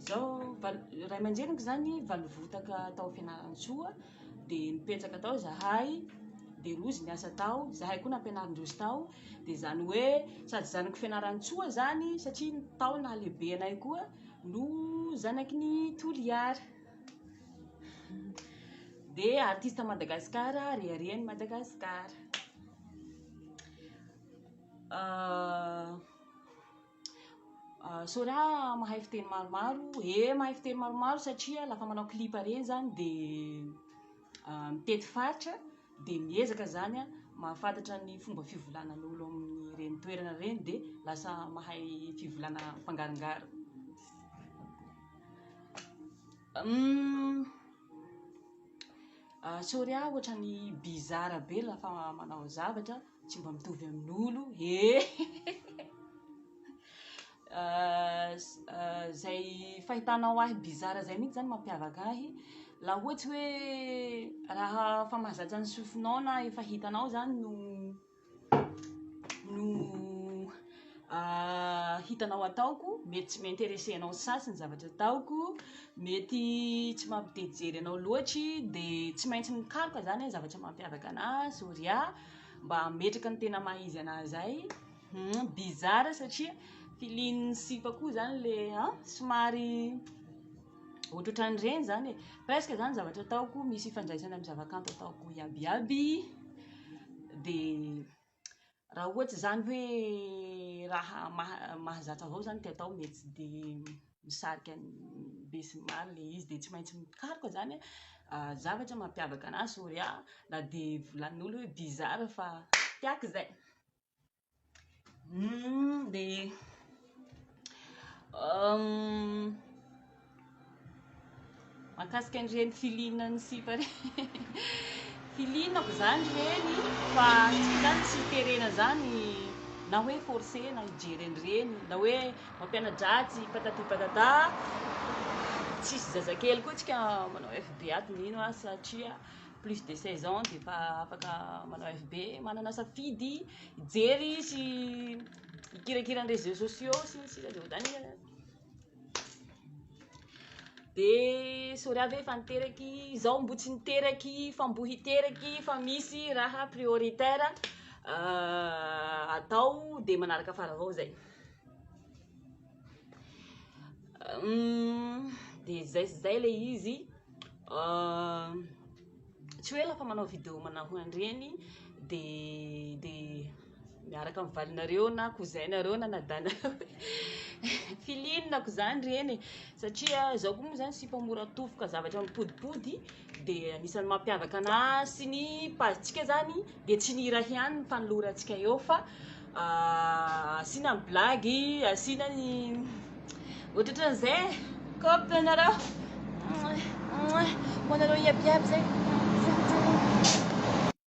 Izaho valo, ray aman-dreniko izany valo votaka tao Fianarantsoa, dia nipetraka tao izahay, dia rozy niasa tao, izahay koa nampianarin-drozy tao, dia izany hoe sady zanako Fianarantsoa izany satria tao nahalehibe anay koa no zanaky ny Toliara. Dia artista Madagasikara, rehareha ny Madagasikara. Euh. Sorry ah mahay fiteny maromaro, ee mahay fiteny maromaro satria lafa manao clip reny zany de mitety faritra de miezaka zany a mahafantatra ny fomba fivolanan'olo amin'ireny toerana reny de lasa mahay fivolana mpangarongaro. Humm sorry a ohatrany bizarre be la fa manao zavatra tsy mba mitovy amin'olo ee zay fahitanao ahy bizarre zay mintsy zany mampiavaka ahy la ohatsy hoe raha fa mahazatra ny sofinao na efa hitanao zany no no hitanao ataoko mety tsy mi-interesse anao sasy ny zavatra ataoko mety tsy mampitejery anao loatry de tsy maintsy mikaroka zany hoe zavatra mampiavaka ana Zorya mba hametraka ny tena maha izy anah zay bizarre satria feeling sipa koa zany le an somary ohatrohatran'ireny izany e, presque izany ny zavatra ataoko, misy ifandraisany amin'ny zavakanto ataoko iaby iaby, dia raha ohatra izany hoe raha mahazatra avao izany no tiako atao dia tsy dia misarika ny be sy ny maro ilay izy dia tsy maintsy mikaroka izany aho zavatra mampiavaka an'ahy sao dia na dia volanin'olona hoe bizarre fa tiako izay. Hum, dia um, makasika an'ireny filiana ny sipa re filinako izany ireny fa tsy zany tsy terena zany na hoe forcé na hijery an'ireny na hoe mampianadratsy patati patata tsisy zazakely koa tsika manao fb ato mino a satria plus de seize ans dia efa afaka manao FB, manana safidy hijery sy hikirakira ny réseaux sociaux sy ny sisa dia ohatrany eh. dia sorry ve efa niteraky izaho mbo tsy niteraky fa mbo hiteraky fa misy raha prioritaire atao dia manaraka fara avao izay dia zay sy zay le izy tsy hoe lafa manao video manao an'ireny dia dia miaraka amin'ny valinareo na cousin nareo na nadanareo filinako zany ireny e satria izaho koa moa zany tsy mpamora tofoka zavatra mipodipody dia anisan'ny mampiavaka anà sy ny page-tsika zany dia tsy ny hira ihany ny fanolorantsika eo fa ah, asiana ny blagy asiana ny ohatraohatran'izay e kop ianareo ho anareo iabiaby zay